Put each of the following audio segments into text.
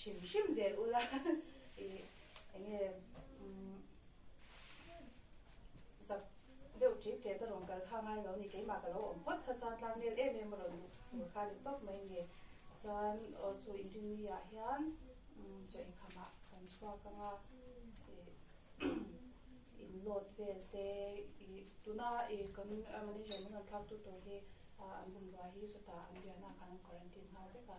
hrim hrim zel ula i eng nge zak deuh ṭip ṭet a rawn kal kha ngai lo ni keimah ka lo awm phawt kha chuan tlak nel em em a rawn duh tur kha ni tawp mai ni chuan aw chu in ring ni ah hian chaw inkham ah kan chhuak ang a in load vel te i tuna i kan manager min rawn thlak tu tur hi an bungrua hi sawtah an biahna ah khan an quarantine nghal vek a.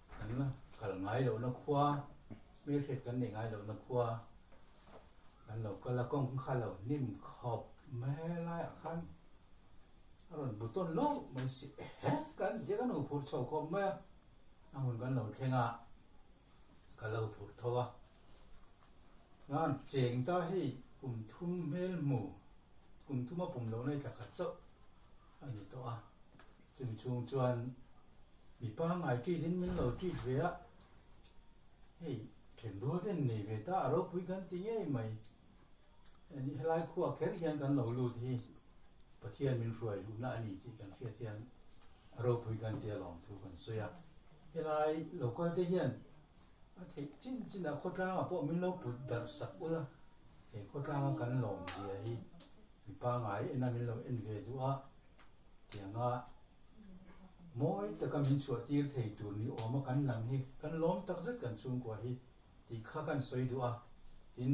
Kan kal ngai lohna khua, hmel hriat kan nei ngai lohna khua kan lo kal a, kawngkhar lo hnim khawp mai laiah khan a rawn bu tawn loh mai si e, kan ti a, kan hu phur chho khawp mai a, a hun kan lo thleng a, ka lo phurh tho a, chuan cheng ta hei kum thum hmel hmu, kum thuma pum lohna hi tla khat chauh a ni tawh a, Chumi chhung chuan mi pangngai treat in min lo treat ve a, hei thlen rual te an nei ve ta a ropui kan ti ngei mai. Anih helai khuaa kher hian kan lo lut hi Pathian min hruai luhna a ni tih kan hriat hian a ropui kan ti alawm thu kan sawi a. Helai lokal te hian. A theih chin chin a khawtlanga pawh min lo put darh sak ula, he khawtlanga kan lawm zia hi mi pangai ena min lo en ve duh a tianga mawi taka min chhuahtir thei tur ni awm a kan lang hi kan lawm tak zet kan chhungkua hi tih kha kan sawi duh a tin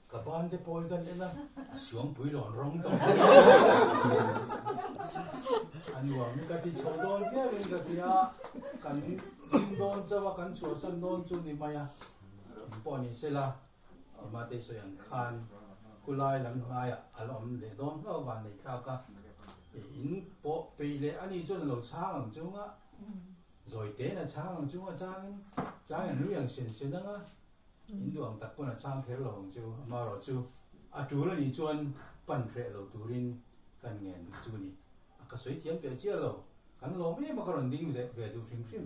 Ka bante pawh i kan en a, a suang pui lawn rawng tawh mai a, a nuam hi ka ti chho dawn viau in ka ti a, kan hlim dawn chauh a, kan chhuahsan dawn chu ni mai a, in pawh a ni se la, i Mate sawi ang khan khulai lam hnaiah a la awm leh dawn hlauh a van nei thlak a, in pawh peih leh a ni chuan a lo chhang ang chungah zawitein a chhang ang chungah changin chang eang nui ang sen se nanga In duang tak pawn a chang kher lo ang chu, amarawh chu a tul a nih chuan pan hreh lo turin kan ngen bik chu a ni. A ka sawi thiam teh chiah lo, kan lawm em a ka rawn ding leh ve duh hrim hrim.